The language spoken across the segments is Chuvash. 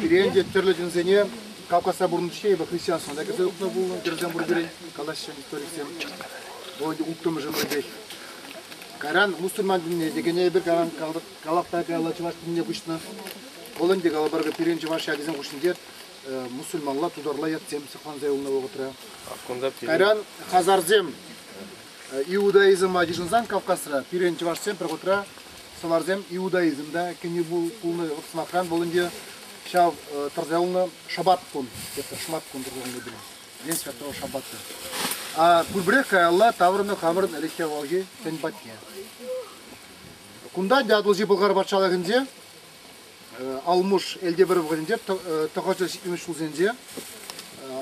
Пирен те тӗрлӗ ҫынсене Кавказра пурӑннӑччӗ эпӗ христианство та кӗрсе утнӑ пулнӑ, кӗрсем пур пирӗн, калаҫҫӗ историксем. Вӑл улттӑмӗшӗ хӑй пек. Кайран мусульман динне текене эпир кайран калапта каялла чӑваш динне куҫнӑ. Вӑл ӗнтӗ калӑпӑр пирӗн чӑваш ячӗсен хушшинче мусульманла, тутарла ятсем сыхланса юлнӑ вӑхӑтра. Кайран хазарсем Иудаизма йышӑнсан Кавказра пирӗн чӑвашсем пӗр хутра Сӑварсем иудаизм та кӗни пулнӑ. Вӑл, сӑмахран, вӑл ӗнтӗ ҫав тӑрса юлнӑ шӑпат кун, шӑмат кун тӑрса пулнӑ День Святого Шаббата. А пурпӗрех каялла таврӑннӑ хамӑрӑн ӗлӗкхи авалхи тӗн патне. Кунта Атӑлҫи Пӑлхар патшалӑхӗнче Алмуш Элте пӗр вӑхӑтӗнче тӑхӑрҫӑ ҫитмӗш ҫулсенче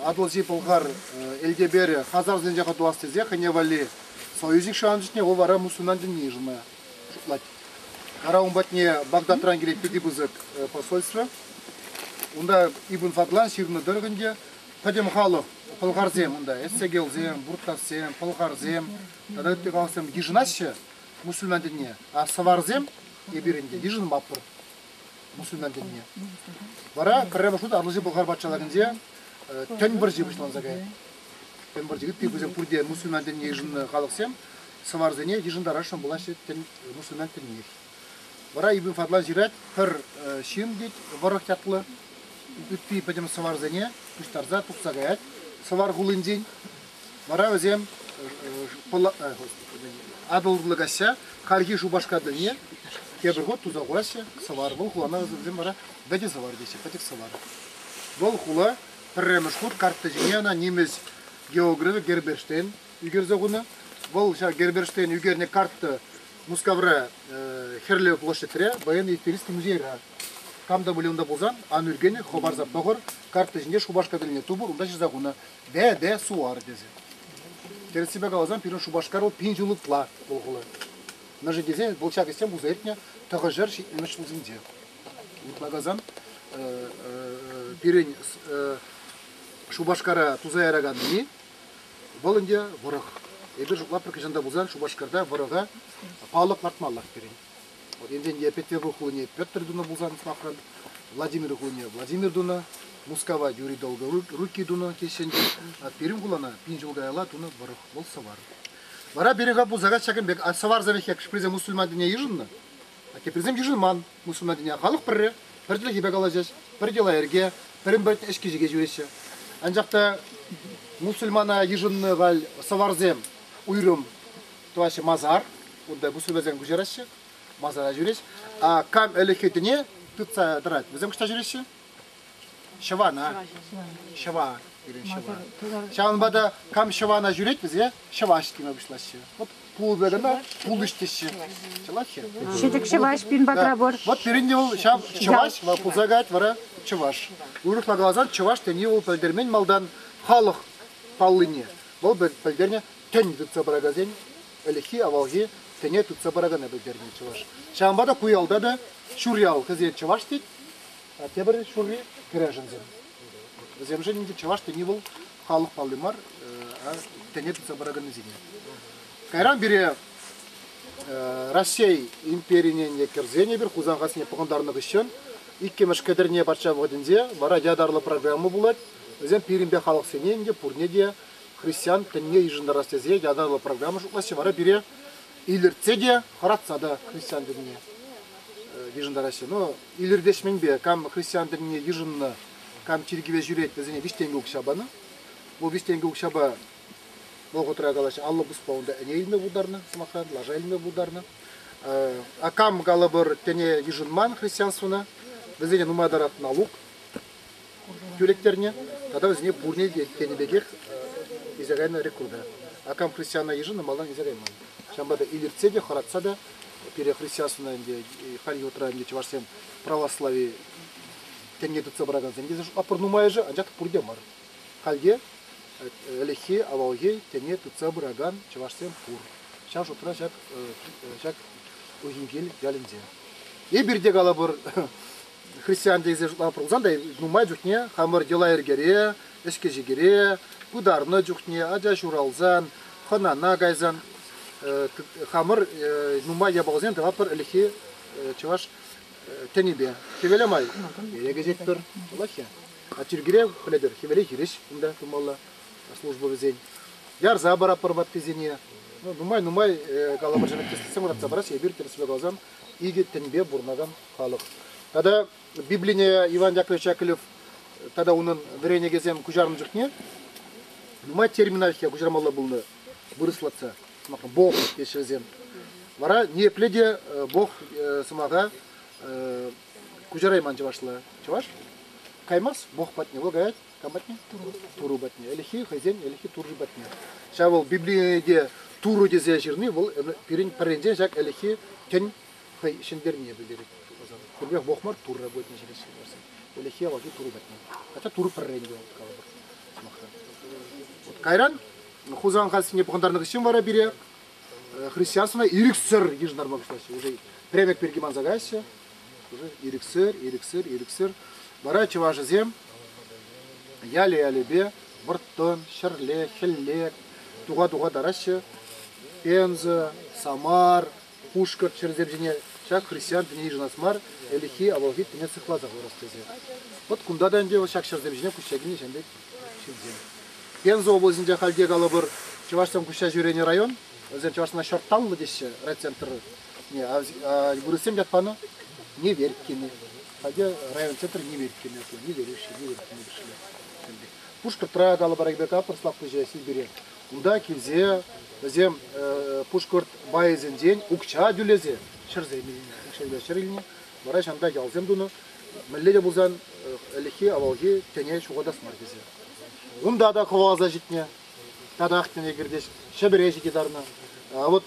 Атӑлҫи Пӑлхар Элтеперӗ хазарсенче хӑтӑлас тесе хӑйне валли союзник шанчӑкне вӑл вара мусульман динне йышӑнма Шутлать. Ара ун патне Багдадран килет питӗ пысӑк посольство. Унта Ибн Фадлан ҫырнӑ тӑрӑх ӗнтӗ пӗтӗм халӑх пӑлхарсем унта, эссегелсем, буртовсем, пӑлхарсем тата ытти халӑхсем йышӑнаҫҫӗ мусульман тӗнне, а сӑварсем эпир ӗнтӗ йышӑнмаппӑр мусульман тӗнне. Вара пӗрремӗш хут Атӑлҫи Пӑлхар патшалӑхӗнче тӗн пӑрҫи пуҫланса каять. Тӗн пӑрҫи ытти пысӑк пурте мусульман тӗнне йышӑннӑ халӑхсем сӑварсене йышӑнтарасшӑн пулаҫҫӗ тӗн, мусульман тӗннех. Вара Ибн Фадлан ҫырать, пӗр ҫын, тет, вӑрӑх ятлӑ, ытти пӗтӗм сӑварсене пуҫтарса тухса каять сӑвар хулинчен. Вара вӗсем Атӑллӑ каҫа хальхи Шупашкар тӗлне тепӗр хут туса хураҫҫӗ сӑвар. Вӑл хулана вӗсем вара вӗтӗ сӑвар теҫҫӗ, пӗчӗк сӑвар. Вӑл хула пӗрремӗш хут картти ҫине ӑна нимӗҫ географӗ Герберштейн ӳкерсе хунӑ. Вӑл ҫав Герберштейн ӳкернӗ картта Мускавра Хӗрлӗ площадьре, военный исторический музейра. Кам та пулин унта пулсан, ан ӳркен, хӑпарса пӑхӑр, карттӑ ҫинче Шупашкарсене тупӑр, унта ҫырса хунӑ Бе-бе Суар тесе. Тӗрӗссипе каласан, пирӗн Шупашкар вӑл пин ҫул ытла улхӑллӑ. Мӗншӗн тесен вӑл ҫак ӗҫсем пулса иртнӗ тӑхӑрҫӗр ҫитмӗш ҫулсенче. Ытла каласан, пирӗн Шупашкара туса яраканни Вӑл ӗнтӗ вӑрӑх. Эпир лапрӑк хӑҫан та пулсан Шупашкарта вӑрӑха паллӑ лартмаллах пирӗн. Вот Евгений Петево хулине Петр тунӑ пулсан лапран, Владимир хулине Владимир тунӑ, Мускава Юрий Долго Руки тунӑ теҫҫӗ ӗнтӗ. Пирӗн хулана пин ҫул каялла тунӑ вӑрӑх, вӑл сӑвар. Вара пирӗн ха пулса каҫ ҫакӑн пек, а сӑварсӑр хек шприсем мусульмансене йышӑннӑ, а теприсем йышӑнман. мусулмансене халӑх пӗрре, пӗр чӗлхепе калаҫӗҫ, пӗр йӑла-йӗрке, пӗрин-пӗрин ӗҫки-ҫике ҫӳреҫҫӗ. Анчах та мусульмана йышӑннӑ валь сӑварсем уйрӑм тӑваҫҫӗ масар, унта мусульмансем куҫараҫҫӗ, масара ҫӳрӗҫ. А кам ӗлӗкхи тӗне тытса тӑрать, вӗсем кӑҫта ҫӳреҫҫӗ. Ҫӑвана. Ҫӑва. Пирӗн ҫӑва. Ҫавӑнпа та кам ҫӑвана ҫӳрет вӗсе ҫӑваҫ теме пуҫлаҫҫӗ. Вот пулӑ кӑна пулӑҫ теҫҫе. Ҫӑлаҫҫӗ. Ҫӗтӗк ҫӑваҫ пин патрапор. Вот пирӗнне вӑл ҫав ҫӑваҫ, вӑл пулса каять вара чӑваш. Уйрӑхла каласан, чӑваш тени вӑл пӗлтермен малтан халӑх паллине. Вӑл пӗлтернӗ тӗн тытса пыракансен ӗлӗкхи, авалхи тӗне тытса пыракана пӗлтернӗ чӑваш. Ҫавӑнпа та ку ялта та Ҫурьял, кӗсен чӑваш тет, Тепӗр ҫулхи кӗрешӗнсем. Вӗсемшӗн ӗнтӗ чӑваш тени вӑл халӑх палли мар, тӗне тупса пыраканнисене. Кайран пире Раҫҫей империне кӗрсен эпир Хусан хасине пӑхӑнтарнӑ хыҫҫӑн иккӗмӗш кӗтӗрне патша вӑхӑтӗнче вара ятарлӑ программа пулать. Вӗсем пирӗнпе халӑхсене ӗнтӗ пурне те христиан тӗнне йышӑнтарас тесе ятарлӑ программа шутлаҫҫӗ. Вара пире илӗртсе те, хӑратса та христиан тӗнне йышӑнтараҫҫӗ. Но Илӗртешменпе кам христиан тӗнне йышӑннӑ, кам чиркӗве ҫӳрет, вӗсене виҫ тенкӗ укҫа панӑ. Вӑл виҫ тенкӗ укҫапа вӑхӑтра калаҫҫӗ, аллӑ пуспа унта ӗне илме пултарнӑ, сӑмахран, лаша илме пултарнӑ. А кам калӑпӑр, тӗне йышӑнман христианствӑна, вӗсене нумай тӑрать налук. тӳлеттернӗ тата вӗсене пурне те тенӗ пекех илсе кайнӑ рекрута. А компрофессиональ йышӑннӑ малтан илсе кайман. Ҫавӑнпа та илӗртсе те хӑратса та пире христианствӑна ӗнтӗ халь ютра ӗнтӗ чӑвашсем православи тӗнне тытса пыракансем тесе аппӑр нумайӑшӗ, анчах пурте мар. Хальте ӗлӗкхи, авалхи тӗне тытса пыракан чӑвашсем пур. Ҫав шутра ҫак ҫак Ухинкил ялӗнче. Эпир те калӑпӑр, христиан тесе шутлама пулсан та нумай чухне хамӑр йӑла-йӗркере, ӗҫкӗ-ҫикӗре пытарнӑ чухне ача ҫуралсан, хӑнана кайсан хамӑр нумай япаласем тӑватпӑр ӗлӗкхи чӑваш тӗнӗпе. Хӗвеле май кӗтетпӗр, вӑлаххи. А чиркӳре пӗлетӗр, хӗвеле хирӗҫ кунта тумалла служба вӗсен. Ярса паратпӑр ваттисене. Ну, нумай-нумай каламӑршӑн тӗслӗхсем вӑратса парас, эпир тӗрӗслесе каласан, икӗ тӗнпе пурӑнакан халӑх. Тата Библине Иван Яковлевич Яковлев тата унӑн вӗренекесем куҫарнӑ чухне нумай термина куҫармалла пулнӑ вырӑслатса. Бог теҫҫӗ вӗсем. Вара ниепле те Бог сӑмаха куҫарайман чӑвашла. Чӑваш каймас Бог патне. Вӑл каять кам патне? Турӑ патне. Ӗлӗкхи хӑйсен ӗлӗкхи Турӑ патне. Ҫав вӑл Библине Турӑ тесе ҫырни вӑл пирӗн пӗрринчен ҫак ӗлӗкхи тӗн хӑй ҫӗнтернине пӗлтерет. Пӗрмех вохмар турра будет интересен барсен. Улехи авалхи туру патне. Хотя туру пӗррен те вот калӑпӑр сӑмахран. Вот кайран Хусан хасине пӑхӑнтарнӑ хыҫҫӑн вара пире христиансына ирӗксӗр йышӑнарма пуҫлаҫҫӗ. Уже премек пирки манса каяҫҫӗ. Уже ирӗксӗр, ирӗксӗр, ирӗксӗр. Вара чӑвашӗсем яле-ялепе вӑрттӑн, ҫӗрле, хӗлле туха-туха тараҫҫӗ. Пенза, Самар, Пушкӑрт хӗрсем ҫине ҫак христиан тӗне йышӑнас мар, ӗлӗкхи, авалхи тӗне сыхласа хӑварас тесе. Вӑт кунта та ӗнтӗ ҫак ҫӗрсем ҫине куҫса килнӗ ҫын пек ҫынсем. Пенза облаҫӗнче халь те калӑпӑр чӑвашсем куҫса ҫӳренӗ район. Вӗсем чӑвашсена Ҫорталлӑ теҫҫӗ райцентрне. А вырӑссем ят панӑ Неверкины. Халь район центр Неверкины, Неверюши, Неверкины пӗшле. Пушкӑртра калӑпӑр Ребекка пӑрслаклӑ ҫеҫ Сибире. Кунта килсе вӗсем пушкӑрт байӗсенчен укҫа тӳлесе ҫӗрсем илнӗ, укҫа ҫӗр илнӗ. Вара ҫанта ялсем тунӑ. Мӗнле те пулсан ӗлӗкхи, авалхи тӗне ҫухатас мар тесе. Унта та хӑваласа ҫитнӗ. Татах тӗне кӗртӗҫ, Ҫӗпӗре ҫити тарнӑ. А вот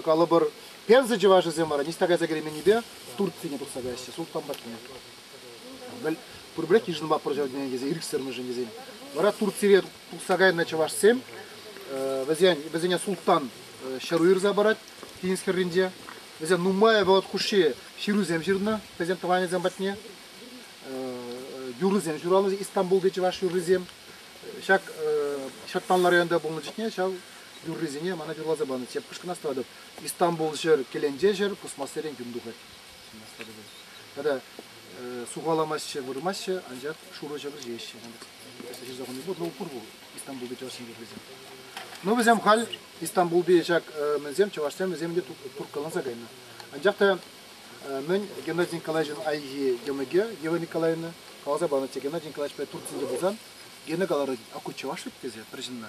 калӑпӑр, пенза чӑвашӗсем вара ниҫта кайса кӗрейменнипе Турцине тухса каҫҫӗ султан патне. Пурпӗрех йышӑнма пӑрҫа тесе ирӗксӗрмӗшӗн тесен. Вара Турцире Тухса кайнӑ чӑвашсем вӗсен, вӗсене султтан ҫыру ирса парать Тинӗскерринче. Вӗсен нумай вӑхӑт хушши ҫырусем ҫырнӑ хӑйсен тӑванӗсем патне. Юрӑсем ҫуралнӑ Истанбулти чӑваш юррисем. Ҫак Ҫӑрттанла районта пулнӑ чухне ҫав юррисене мана юрласа панӑ. Тепкӗш кӑна статуя Истанбул ҫӗр, Кӗленче ҫӗр, пусмассерен юн тухать. Тара сухаламаҫҫӗ, вырмаҫҫӗ, анчах шурӑ ҫӑкӑр ҫиеҫҫӗ. Ҫырса хӑни пур, ну пур бу Истанбулти чӑвашсем вӗсем. Ну вӗсем халь Истанбулти ҫак мӗнсем чӑвашсем вӗсем те турккаланса кайнӑ. Анчах та мӗн Геннадий Николаевичӑн айхи йӑмӑкӗ Ева Николаевна каласа панӑччӗ Геннадий Николаевич пек Турцинче пулсан гене каларӑн, а ку чӑваш вӗт тесе пӗр ҫынна.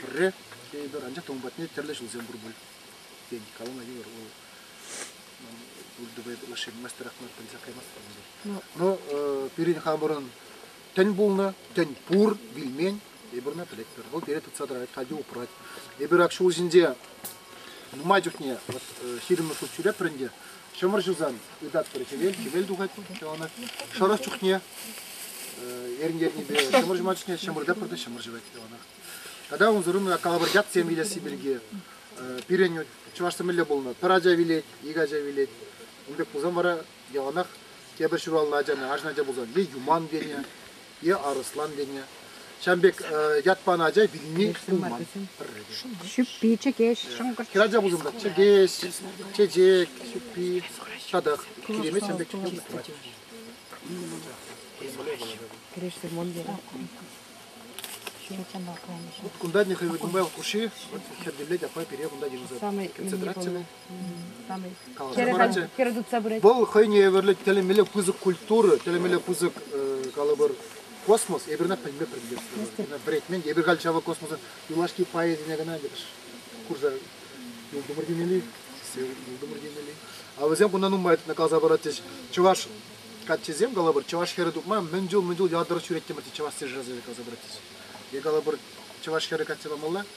Пӗрре эпир анчах та ун патне тӗрлӗ ҫулсем пур пуль. Тен, калама йывӑр, вӑл пур тупа лаша юлмастӑрах мар пӗлсе каймастпӑр ӗнтӗ. Ну, пирӗн хамӑрӑн тӗн пулнӑ, тӗн пур, вилмен, эпир ӑна пӗлетпӗр. Вӑл пире тытса тӑрать, катя упрать. Эпир ак ҫул ҫинче Нумай чухне ҫирӗммӗш хут ҫӳреппӗр ӗнтӗ, ҫӑмӑр ҫусан ытатпӑр хӗвел, хӗвел тухать яланах. Шӑрӑх чухне эрн ернипе ҫӑмӑр ҫума чухне ҫӑмӑр таппӑр та ҫӑмӑр ҫӑвать яланах. Тата унсӑрӑн колобордятсем илесси пирки пирӗн чӑвашсем мӗнле пулнӑ? Пӗр ача вилет, икӗ ача вилет. Ун пек пулсан вара Яланах тепӗр ҫуралнӑ ачана, арҫын ача пулсан, е Юман тенӗ, е Арӑслан тенӗ. Ҫавӑн пек ят панӑ ача вилни пулман. Ҫӳппи, чӗкеҫ, шӑнкӑрч. Хӗрача пулсан та чӗкеҫ, чечек, ҫӳппи, татах киремет ҫавӑн пек чӳкеме тӑвать. Кӗрешсе мон дерем. Вот кунта Нихаил Гудмайл хуши, вот херделет апай пире кунта Самый кӗнсе тратчӗ. Вӑл хӑйне евӗрлӗ тӗлӗмелле пысӑк культура, тӗлӗмелле пысӑк калӑпӑр космос, эпирна пӗлме пӗлместпӗр. Вӗретмен, эпир халь ҫавӑ космоса юлашки пайӗсене кӑна курса юлтӑмӑр темелли, юлтӑмӑр темелли. А вӗсем кунта нумай каласа паратчӗҫ. Чӑваш каччисем калӑпӑр, чӑваш хӗрӗ тупма мӗн чул мӗн чул ятӑр ҫӳреттӗмӗр тет чӑваш сержасӗ каласа паратчӗҫ. Е калӑпӑр, чӑваш хӗрӗ качча памалла.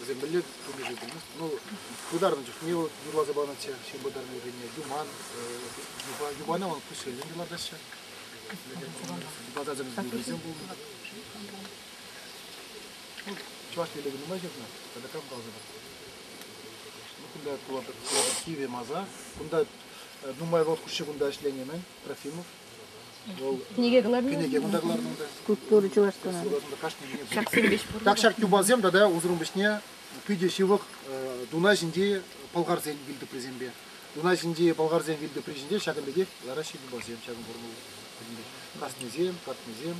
Вӗсем мӗнле пурнӑҫ ӳкермест? Ну, пытарнӑ чухне вот юрласа панӑччӗ, ҫын пытарнӑ вӗренне, юман, юпа, юпана вон пуҫсенчен юрлатаҫҫӗ. Юпасачӑмс билисем пулнӑ. Чӑваш телегі нумай ҫырнӑ, тата кам каласа пар? Ну, кунта пулатӑр киве маза. Кунта нумай вӑл хушши кунта ӗҫленӗ-мӗн, Трофимов. Кӗнеке кунта кӑлартӑм та. Культура чӑваш тунӑ. Суратӑм та кашни кӗнеке. Ҫаксем веҫ пур. Ҫак ҫак юпасем тата усрун пуҫне питӗ ҫывӑх э, Дунай ҫинчи пӑлхарсен вилтӑприсемпе. Дунай ҫинчи пӑлхарсен вилтӑпри ҫинче ҫакӑн пекех лараҫҫӗ юпасем, ҫакӑн формулӑ пӗтӗмпех. Каснисем, катнисем.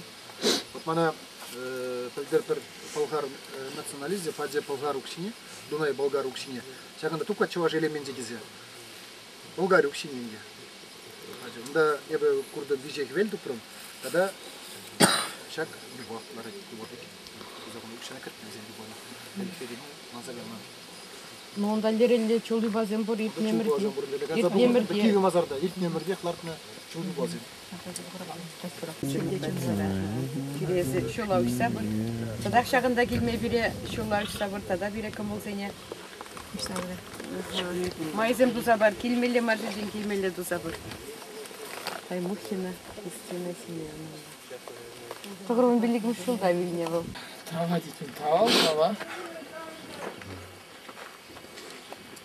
Вот мана э, пӗлтер пӗр пӑлхар э, националисчӗ, Фадзе пӑлхар укҫине, Дунай болгар укҫине, ҫакӑнта тукка чӑваш элеменчӗ тесе. Болгариук ҫиненте. Унта эпӗ куртӑм виҫе хӗвел тупрӑм тата ҫак юпа ларать юпа пек. Туса хунӑ укҫана кӗртнӗ вӗсем юпана. Хӗвелтен ланса кайма. Ну, унта лерелле чул юпасем пур, иртнӗ ӗмӗрте. Иртнӗ ӗмӗрте. Иртнӗ ӗмӗртех лартнӑ чул юпасем. Киресе ҫула уҫса пыр. Татах ҫакӑнта килме пире ҫула уҫса пыр тата пире кӑмӑлсене. Майсем туса пар, килмелле мар ҫинчен килмелле туса пыр. Таймухина Кристина Семеновна. Погромом Великом ҫулта вилнӗ вӑл. Травматитель травл, трава.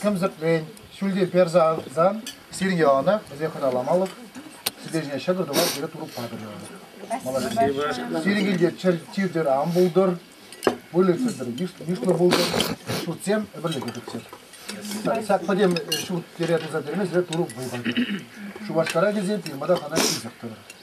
сӗмсӗртрен ҫӳлте персе авсан сирӗн яланах вӗсен хӑталамалӑх сӗтел ҫине ҫӑкӑр тупа тирӗ турып патӑрӗ. Сирӗн килте чир-чир ан пултӑр, выльӑхсӑр йышлӑ пултӑр, ҫуртсем ӗмӗрлӗхе пӗтсӗр. Ҫак пӗтем ҫурт тире туса терме сире турӑ вӑй патӑр. Шупашкара килсен пирмата хана ҫисӗр тӑрӑр.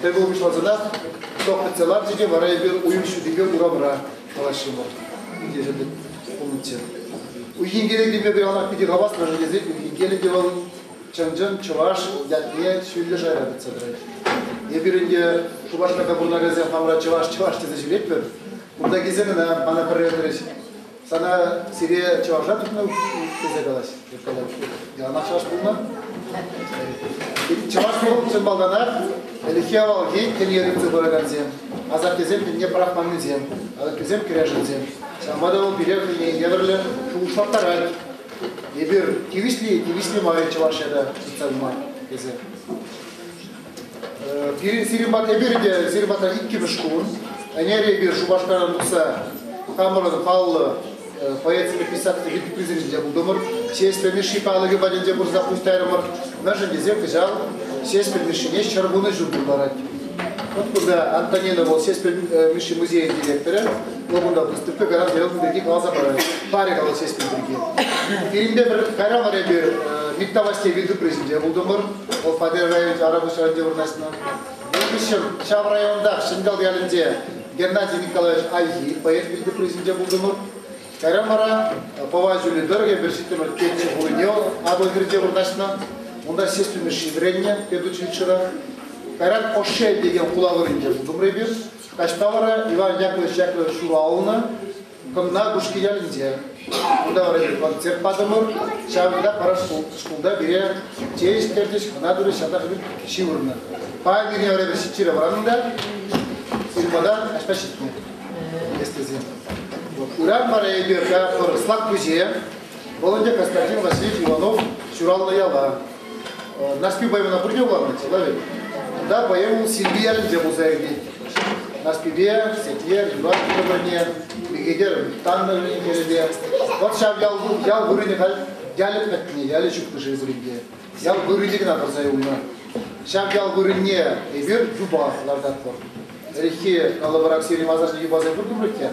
Тӗл пулу пуҫлансанах токнотсем ларчӗ те вара эпир уйӑх ҫутипе урамра калаҫрӑмӑр. Ентешӗмӗр пулнӑччӗ. Уйхинкелӗкӗпе пуянах питӗ хаваслӑ тесен Уйхинкелӗкӗ вӑл чӑн-чӑн чӑваш ятне ҫӳллӗ шайра тытса тӑрать. Эпир ӗнтӗ Шупашкарта пурӑнакансем хамӑра чӑваш-чӑваш тесе ҫӳретпӗр. Кунта килсе кӑна мана пӗрре хирӗҫ Сана сире чӑваша тухнӑ тесе калаҫ, тет калать. Яланах чӑваш пулнӑ. Чӑваш пулнӑ чӑн малтанах ӗлӗкхи авалхи кӗньер илсе пыракансем, асаттесем тӗнне пӑрахманнисем, алӑккисем кӗрешӗнсем. Ҫавӑнпа та вӑл пире хӑйне евӗрлӗ шухӑшлаттарать. Эпир тивӗҫли, тивӗҫли мар чӑваш ята тытса пыма тесе. Пирӗн сирӗн пата эпир те сирӗн пата иккӗмӗш кун. Ӗнер эпир Шупашкаран тухса хамӑрӑн паллӑ поэтсемпе писатель витти призывӗнче пултӑмӑр. Ҫеҫпӗл Мишши палӑкӗ патӗнче пырса пуҫ тайрӑмӑр. Мӗншӗн тесен кӑҫал Ҫеҫпӗл Мишшине ҫӗркунӑ ҫул пултарать. Вот кунта Антонина вӑл Ҫеҫпӗл Мишши музейӗн директорӗ. Вӑл кунта выставка гарант яратнӑ пирки каласа парать. Парӗ калать Ҫеҫпӗл пирки. Пирӗнте пӗр кайран вара эпир Миттавасьте витти призӗнче пултӑмӑр. Вӑл Победа районӗнчи Арапуҫрайонте вырнаҫнӑ. Вӑл хыҫҫӑн ҫав районтах Ҫӗньял ялӗнче Геннадий Николаевич Альхи поэт вилнӗ призӗнче пултӑмӑр. Кайран вара Пӑва ҫулӗ тӑрӑхӗ вӗр ҫиттӗмӗр Теччӗ хулине Атӑлхирте вырнаҫнӑ. Унта ҫеҫ тунӑҫҫи вӗреннӗ педучилищӗра. Кайран Ошель текен хула вырӑнӗнче туптӑмӑр эпир. Таҫта вара Иван Яковлевич Яковлевич ҫуралнӑ. Коммуна Кушки ялӗнче. Унта вара концерт патӑмӑр. Ҫавӑнта пара шкулта пире чей ӗҫтерчӗҫ, хӑна турӗҫ, ҫатах ҫывӑрнӑ. Паян ирхи вара эпӗ чирӗ вӑраннӑ та сирпӑтан аҫпа ҫитнӗ эс тесен. Урам вара эпир пӗр Слакпуҫе, Володя Константин Васильевич Иванов ҫуралнӑ яла, Нарспи поэмӑна пурне вуланӑ, сӑнавӗ. Тата поэму Сирпи ялӗнче пулса иртет. Нарспипе Сетьер Юрат пӗр-пӗрне Мехедер Таннӑн ӳкерӗпе. Вӑт ҫав ял, ял вырӑнӗ халь ялӗ пӗтнӗ, ялӗ ҫуктӑшӗ эсир ӗнтӗ. Ял вырӑнӗ кӑна тӑрса юлнӑ. Ҫав ял вырӑнне эпир юпах лартатпӑр. Ӗлӗкхи калӑпӑрах сире масажне юпаса куртӑмӑр иккен.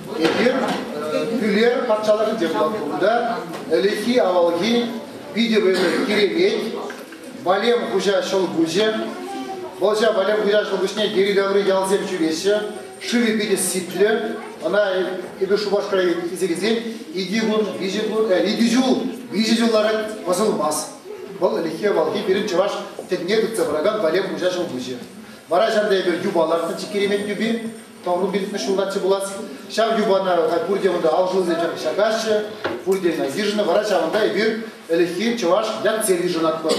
Эпир Пӳлер патшалӑхӗнче пулатпӑр. Унта ӗлӗкхи, авалхи питӗ вӗсӗр Киремет, Валем хуҫа ҫӑл куҫӗ. Вӑлҫа Валем хуҫа ҫӑл куҫне йӗри-таври ялсем ҫӳреҫҫӗ. Шывӗ питӗ сиплӗ. Ӑна эпир Шупашкара илсе килсен икӗ кун, виҫӗ кун, икӗ ҫул, виҫӗ ҫул ларать пӑсӑлмас. Вӑл ӗлӗкхи, авалхи пирӗн чӑваш тӗнне тытса пыракан Валем хуҫа ҫӑл куҫӗ. Вара ҫавӑнта эпир юпа лартнӑччӗ Киремет юпи. Тӑхӑру пиллӗкмӗш ҫултаччӗ пулас. Ҫав юпана халь пурте унта алшӑлсем ҫакаҫҫӗ, пурте ӑна йышӑннӑ. Вара ҫавӑнта эпир ӗлӗкхи чӑваш ятсем йышӑнатпӑр.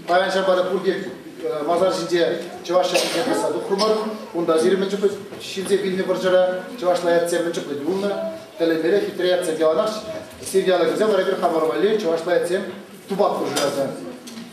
Паян ҫапа та пурте э, масар ҫинче чӑваш ятсене тӑсса тухрӑмӑр. Унта ҫирӗм мӗн чухлӗ ҫилсе килнӗ вӑрҫӑра чӑвашла ятсем мӗн чухлӗ юлнӑ. Тӗлӗнмелле хитре ятсем яланах сирте алӑкӗсем вара эпир хамӑр валли чӑвашла ятсем тупах хушӑраса.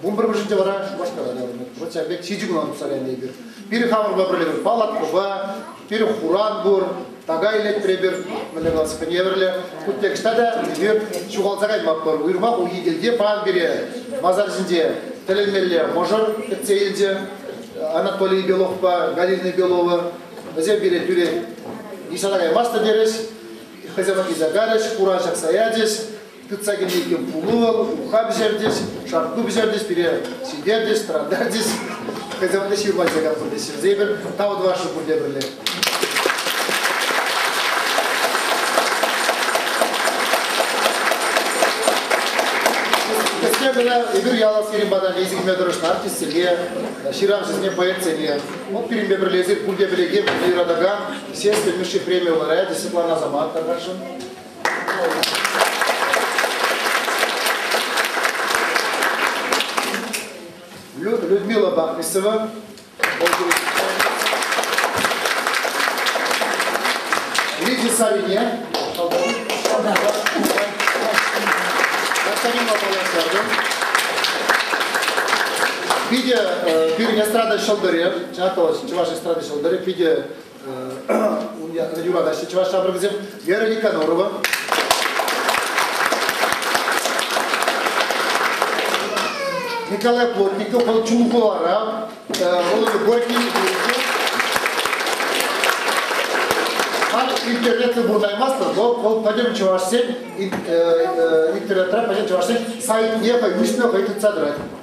Вун пӗрмӗшӗнче вара Шупашкара таврӑннӑ. Вот ҫав пек ҫичӗ куна тухса кайнӑ эпир. Пирӗн хамӑрпа пӗрле палаткӑпа, пирӗн хуран пур, така илет пӗрепер мӗнле классика евӗрлӗ. Кутекҫта та эпир ҫухалса каймастпӑр. Уйрӑмах Ухикилте пан пире масар ҫинче тӗлӗнмелле мӑшӑр кӗтсе илчӗ. Анатолий Беловпа Галина Белова. Вӗсем пире тӳрех нихҫана каймастӑр терӗҫ. Хӑйсем ӑнласа карӗҫ, хура ҫакса ячӗҫ. тытса кӗнекен пулу, ухав пӗҫертӗҫ, шартку пӗҫертӗҫ, пире ҫитертӗҫ, тӑрантартӗҫ. Хӑйсем те ҫырма ҫакас пулӗҫ. Ҫӗрсе эпир тав тӑвасшӑн пурте пӗрле. Кӗске кӑна эпир ял аскерин патне эсӗ килме тӑрӑшнӑ артистсене, ҫыравҫӑсене, поэтсене. Вӑл пирӗнпе пӗрле эсир пурте пӗлекен, пурте юратакан Сеспель Мишши преми лауреачӗ Светлана Заматовашӑн. Людмила Бахрисова. Лидия Савине. Господин Лопаласярдин. Питӗ пирӗн эстрада ҫӑлтӑрӗ, чӑваш эстрада ҫӑлтӑрӗ питӗ ун ятне юратаҫҫӗ чӑваш ҫамрӑкӗсем Вера Никонорова. Николай Плотников вӑл Чулхулара, Володя Горький Халь интернетсем вырнаймастӑн, но вӑл пӗтӗм чӑвашсен интернетра пӗтӗм чӑвашсен сайтне хӑй уҫнӑ хӑй тытса тӑрать.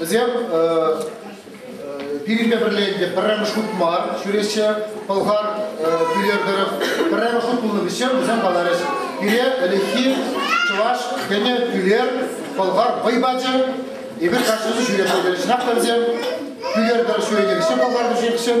Вӗсем пирӗнпе пӗрле ӗнтӗ пӗрремӗш хут мар ҫӳреҫҫӗ. Пӑлхар пӳлер тӑрӑх пӗрремӗш хут пулнӑ вӗҫҫен вӗсем каларӗҫ. Пире ӗлӗкхи чӑваш кӗнӗ пӳлер пӑлхар вӑй пачӗ. Эпир кашни ҫӳре пӗлтерӗҫ. Нафта вӗсем пӳлер тӑрӑх ҫӳренӗ вӗҫҫен пӑлхар вӗҫенӗҫҫен.